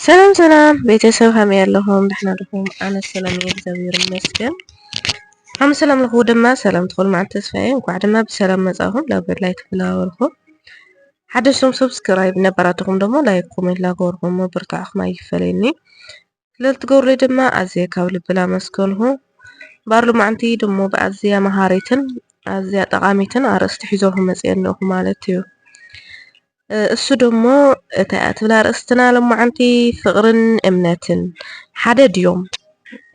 ሰላም ሰላም ቤተሰብ ከመይ ኣለኹም? ደሕና ዲኹም? ኣነ ሰላም እየ እግዚኣብሔር ይመስገን። ኣብ ሰላም ለኹ ድማ ሰላም ትኹል መዓልቲ ተስፋዬ እንኳዕ ድማ ብሰላም መጻኹም ናብ ገድላይ ተፈላወርኩም ሓደሽቶም ሰብስክራይብ ነባራትኹም ደግሞ ላይክ ኮሜንት ላገበርኩም ምብርታዕኹም ኣይፈለየኒ ለልትገብሩለይ ድማ ኣዝየ ካብ ልቢ ላመስግንኩ። እምበኣር ሎማዓንቲ ደሞ ብኣዝያ መሃሪትን ኣዝያ ጠቓሚትን ኣርእስቲ ሒዘልኩም መጺኤ ኣለኹ ማለት እዩ። እሱ ደሞ እንታይ እያ ትብል ኣርእስትና ሎማዓንቲ ፍቕርን እምነትን ሓደ ድዮም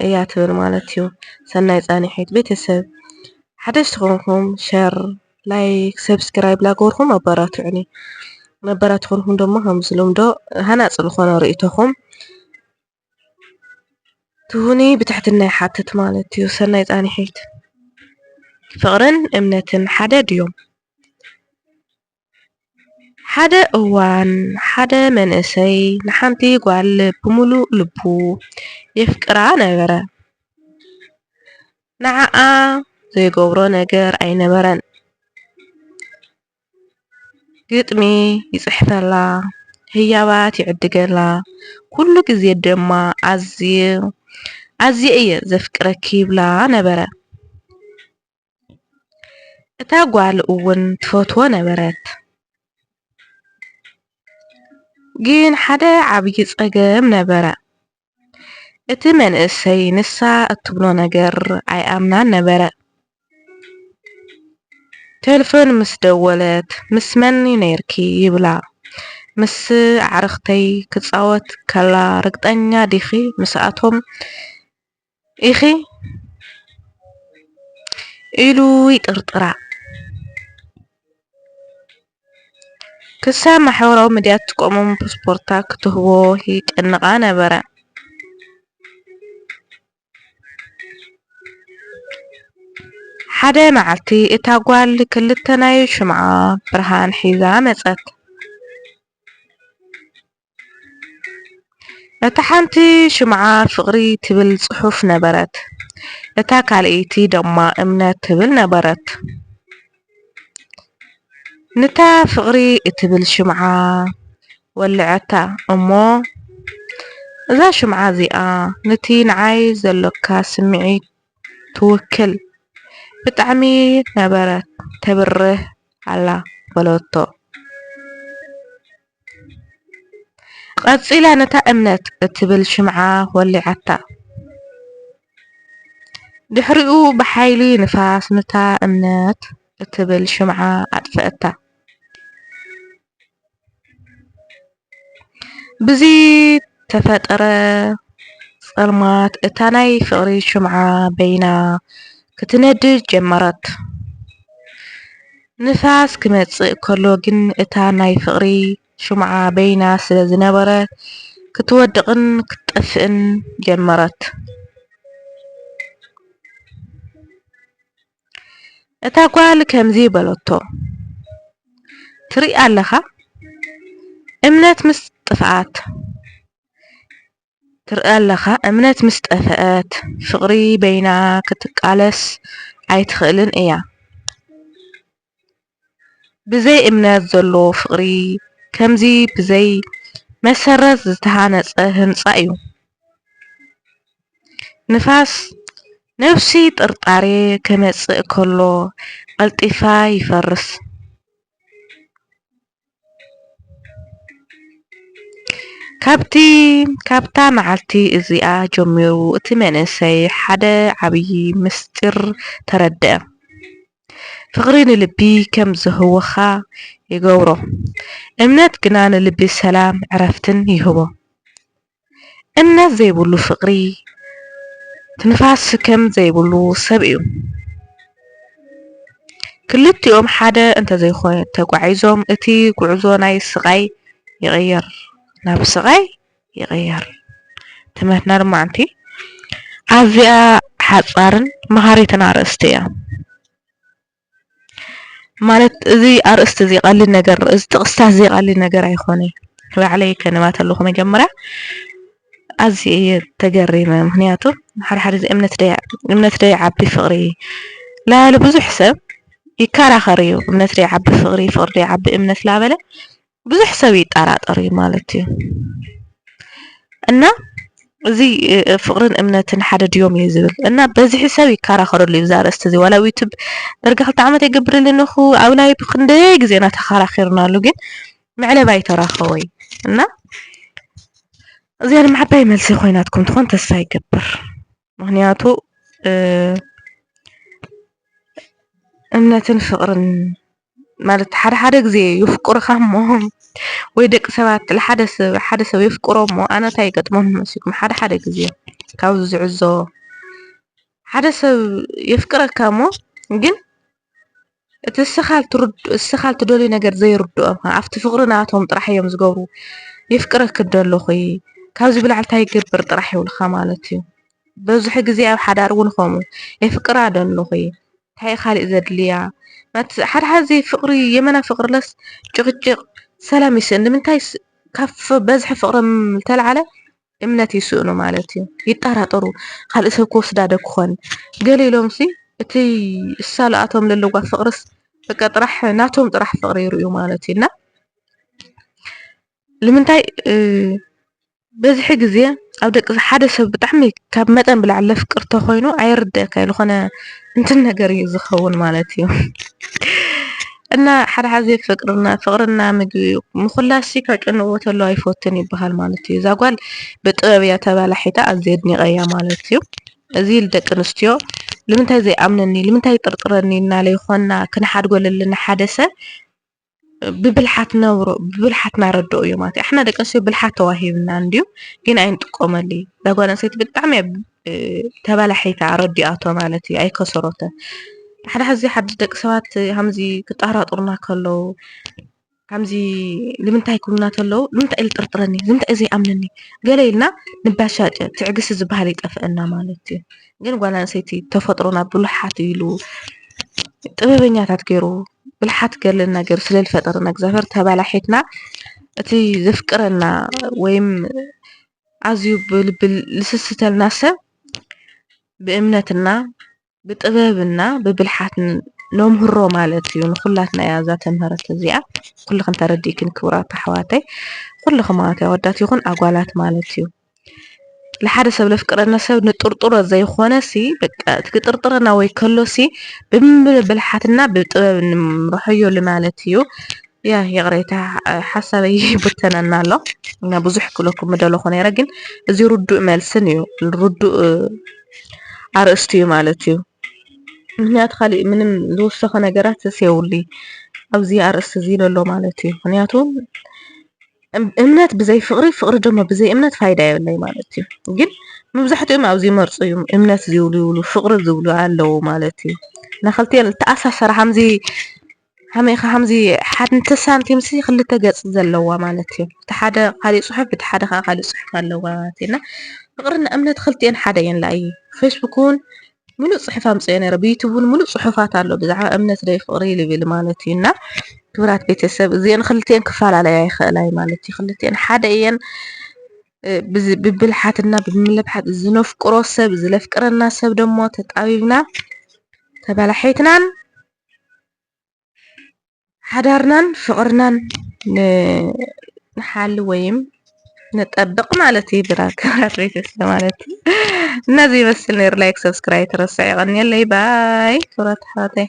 እያ ትብል ማለት እዩ። ሰናይ ጻንሒት ቤተሰብ ሓደሽቲ ኮንኩም ሸር ላይክ ሰብስክራይብ ላገበርኩም ኣባራቱዑኒ መበራትኹንኩም ደሞ ከምዚ ልምዶ ሃናጽ ዝኾነ ርእይቶኹም ትሁኒ ብትሕትና ይሓትት ማለት እዩ ሰናይ ጻኒሒት ፍቕርን እምነትን ሓደ ድዮም ሓደ እዋን ሓደ መንእሰይ ንሓንቲ ጓል ብምሉእ ልቡ የፍቅራ ነበረ። ንዓኣ ዘይገብሮ ነገር ኣይነበረን። ግጥሚ ይጽሕፈላ፣ ህያባት ይዕድገላ፣ ኩሉ ግዜ ድማ ኣዝየ ኣዝየ እየ ዘፍቅረኪ ይብላ ነበረ። እታ ጓል እውን ትፈትዎ ነበረት። ግን ሓደ ዓብዪ ጸገም ነበረ። እቲ መንእሰይ ንሳ እትብሎ ነገር ኣይኣምናን ነበረ። ተልፎን ምስ ደወለት ምስ መን ነይርኪ ይብላ። ምስ ኣዕርኽተይ ክጻወት ከላ ርግጠኛ ዲኺ ምስኣቶም ኢኺ ኢሉ ይጥርጥራ። ክሳብ ማሕበራዊ ሚድያ እትቆምም ፓስፖርታ ክትህቦ ይጨንቓ ነበረ። ሓደ መዓልቲ እታ ጓል ክልተ ናይ ሽምዓ ብርሃን ሒዛ መጸት። እታ ሓንቲ ሽምዓ ፍቕሪ ትብል ጽሑፍ ነበረት፣ እታ ካልኣይቲ ደማ እምነት ትብል ነበረት። ንታ ፍቕሪ እትብል ሽምዓ ወልዐታ እሞ፣ እዛ ሽምዓ እዚኣ ንቲ ንዓይ ዘሎካ ስምዒት ትውክል፣ ብጣዕሚ ነበረት ተብርህ ኣላ በለቶ። ቐጺላ ነታ እምነት እትብል ሽምዓ ወሊዓታ። ድሕሪኡ ብሓይሊ ንፋስ ነታ እምነት እትብል ሽምዓ ኣጥፈኣታ። ብዝተፈጥረ ጸልማት እታ ናይ ፍቕሪ ሽምዓ በይና ክትነድድ ጀመረት። ንፋስ ክመጽእ ከሎ ግን እታ ናይ ፍቕሪ ሽምዓ በይና ስለ ዝነበረት ክትወድቕን ክትጠፍእን ጀመረት። እታ ጓል ከምዚ በለቶ፣ ትርኢ ኣለኻ፣ እምነት ምስ ጥፍኣት፣ ትርኣ ኣለኻ እምነት ምስ ጠፈኣት ፍቅሪ በይና ክትቃለስ ኣይትኽእልን እያ ብዘይ እምነት ዘሎ ፍቅሪ ከምዚ ብዘይ መሰረት ዝተሃነጸ ህንጻ እዩ ንፋስ ነብሲ ጥርጣሬ ክመጽእ ከሎ ቀልጢፋ ይፈርስ። ካብታ መዓልቲ እዚኣ ጀሚሩ እቲ መንእሰይ ሓደ ዓብዪ ምስጢር ተረድኣ። ፍቕሪ ንልቢ ከም ዝህውኻ ይገብሮ፣ እምነት ግና ንልቢ ሰላምን ዕረፍትን ይህቦ። እምነት ዘይብሉ ፍቅሪ ትንፋስ ስከም ዘይብሉ ሰብ እዩ ክልቲኦም ሓደ እንተዘይኮይ ተጓዒዞም እቲ ጉዕዞ ናይ ስቃይ ይቅየር ናብ ስቃይ ይቅየር ትምህርትና ድማ ኣንቲ ኣዝያ ሓጻርን መሃሪትን ኣርእስቲ እያ። ማለት እዚ ኣርእስቲ እዚ ቀሊል ነገር እዚ ጥቕስታት እዚ ቀሊል ነገር ኣይኮነይ ባዕለይ ከንባ ተለኹ መጀመርያ ኣዝየ እየ ተገሪመ ምክንያቱ ሓደ ሓደ እዚ እምነት ደይ እምነት ደይዓቢ ፍቕሪ ላበለ ብዙሕ ሰብ ይከራኸር እዩ እምነት ደይዓቢ ፍቕሪ ፍቕሪ ደይዓቢ እምነት ላበለ ብዙሕ ሰብ ይጠራጠር እዩ ማለት እዩ እና እዚ ፍቅርን እምነትን ሓደ ድዮም እዩ ዝብል እና በዝሒ ሰብ ይከራኸረሉ እዩ ዛርእስቲ እዚ ዋላ ዩቱብ ደርጋ ክልተ ዓመት የገብረልን እኹ ኣብ ላይ ክንደይ ግዜና ተኸራኺርናሉ ግን መዕለባ ይተራኸወይ እና እዚኣ ድማ ዓባይ መልሲ ኮይናትኩም ትኾን ተስፋ ይገብር። ምክንያቱ እምነትን ፍቅርን ማለት ሓደ ሓደ ግዜ የፍቅሩኻ እሞ ወይ ደቂ ሰባት ንሓደ ሰብ ሓደ ሰብ የፍቅሮ እሞ ኣነ እንታይ ይገጥመኒ መሲልኩም ሓደ ሓደ ግዜ ካብዚ ዝዕዘቦ ሓደ ሰብ የፍቅረካ እሞ ግን እቲ እስኻ ልትደልዮ ነገር ዘይርድኦም ከ ኣብቲ ፍቅሪ ናቶም ጥራሕ እዮም ዝገብሩ የፍቅረኪ ዶ ኣለኹ ካብዚ ብላዕሊ ታይ ክገብር ጥራሕ ይብልኻ ማለት እዩ በዙሕ ግዜ ኣብ ሓዳር እውን ከምኡ የፍቅራ ዶ ኣለኹ ታይ እዩ ካሊእ ዘድልያ ሓድ ሓዚ ፍቅሪ የመና ፍቅሪ ለስ ጭቅጭቅ ሰላም ይስእን ንምንታይ ካብ በዝሒ ፍቅሪ ዝተልዓለ እምነት ይስእኑ ማለት እዩ ይጣራጠሩ ካልእ ሰብ ክወስዳ ዶ ክኾን ገለ ኢሎምሲ እቲ እሳልኣቶም ለለዋ ፍቅርስ በቃ ጥራሕ ናቶም ጥራሕ ፍቅሪ ይርእዩ ማለት እዩ እና ልምንታይ በዝሒ ግዜ ኣብ ደቂ ሓደ ሰብ ብጣዕሚ ካብ መጠን ብላዕሊ ለፍቅር ተኾይኑ ኣየርድእካ ዝኾነ እንትን ነገር እዩ ዝኸውን ማለት እዩ። እና ሓደ ሓዚ ፍቅርና ፍቅርና ምግቢ እዩ ምኹላስሲ ከጨንቅዎ ተሎ ኣይፈቱን ይበሃል ማለት እዩ እዛ ጓል ብጥበብ እያ ተባላሒታ ኣዝየ ኣድኒቀያ ማለት እዩ እዚ ልደቂ ኣንስትዮ ልምንታይ ዘይኣምነኒ ልምንታይ ይጥርጥረኒ እናለ ይኾና ክንሓድጎ ለለና ሓደ ሰብ ብብልሓት ነብሮ ብብልሓት ናረድኦ እዩ ማለት እዩ ኣሕና ደቂ ኣንስትዮ ብልሓት ተዋሂብና እንድዩ ግን ኣይንጥቆመሉ እዛ ጓል ኣንስተይቲ ብጣዕሚ እያ ተበላሒታ ኣረዲኣቶ ማለት እዩ ኣይከሰሮትን ሓደ ሕዚ ሓደ ደቂ ሰባት ከምዚ ክጣራጥሩና ከለዉ ከምዚ ንምንታይ ክብሉና ከለዉ ንምንታይ እዩ ዝጥርጥረኒ ንምንታይ እዩ ዘይኣምነኒ ገለ ኢልና ንባሻጨ ትዕግስቲ ዝበሃል ይጠፍአና ማለት እዩ ግን ጓል ኣንስተይቲ ተፈጥሮና ብሉሓት ኢሉ ጥበበኛታት ገይሩ ብልሓት ገለና ገይሩ ስለ ዝፈጠረና እግዚኣብሔር ተባላሒትና እቲ ዘፍቅረና ወይም ኣዝዩ ብልቢ ልስስተልና ሰብ ብእምነትና ብጥበብና ብብልሓት ነምህሮ ማለት እዩ። ንኹላትና እያ እዛ ትምህርቲ እዚኣ ኩልኽን ተረዲእክን ክብራት ኣሕዋተይ ኩልኽን ማለት ኣወዳት ይኹን ኣጓላት ማለት እዩ። ንሓደ ሰብ ለፍቅረና ሰብ ንጥርጥሮ ዘይኾነሲ በቃ እቲ ክጥርጥረና ወይ ከሎሲ ብልቢ ብልሓትና ብጥበብ ንምርሖዮ ማለት እዩ። ያ ይቕሬታ ሓሳበይ ይብተነና ኣሎ እና ብዙሕ ክብለኩም ምደለኹ ነይረ ግን እዚ ርዱእ መልስን እዩ ርዱእ ኣርእስቲ እዩ ማለት እዩ ምክንያቱ ካሊእ ምንም ዝወሰኸ ነገራት ስየብሉ ኣብዚ ኣርእስቲ እዚ ዘሎ ማለት እዩ ምክንያቱ እምነት ብዘይ ፍቕሪ ፍቕሪ ድማ ብዘይ እምነት ፋይዳ የብለይ ማለት እዩ ግን መብዛሕትኦም ኣብዚ መርፁ እዩ እምነት ዝብሉ ይብሉ ፍቕሪ ዝብሉ ኣለዉ ማለት እዩ ናክልቲኤን ዝተኣሳሰረ ከምዚ ከመይ ኢኻ ከምዚ ሓንቲ ሳንቲም ሲ ክልተ ገጽ ዘለዋ ማለት እዩ እቲ ሓደ ካሊእ ጽሑፍ እቲ ሓደ ከዓ ካሊእ ጽሑፍ ኣለዋ ማለት እዩ እና ፍቅርና እምነት ክልቲኤን ሓደ እየን ላእይ ፌስቡክ እውን ሙሉእ ጽሑፍ ኣምጽኦ ነረ ብዩቱብ እውን ሙሉእ ጽሑፋት ኣሎ ብዛዕባ እምነት ደይ ፍቅሪ ልብል ማለት እዩ እና ክብራት ቤተሰብ እዚኤን ክልቲኤን ክፈላለያ ይኽእላ እዩ ማለት እዩ ክልቲኤን ሓደ እየን ብብልሓትና ብምልብሓት ዝነፍቅሮ ሰብ ዝለፍቅረና ሰብ ደሞ ተጣቢብና ተበላሒትናን ሓዳርናን ፍቅርናን ንሓሊ ወይም ንጠብቅ ማለት እዩ ድራር ክብራት ቤተሰብ ማለት እዩ እና ዘይመስል ነይሩ ላይክ ሰብስክራይብ ትረስዕ ይቀንየለይ ባይ ክብራት ኣሕዋተይ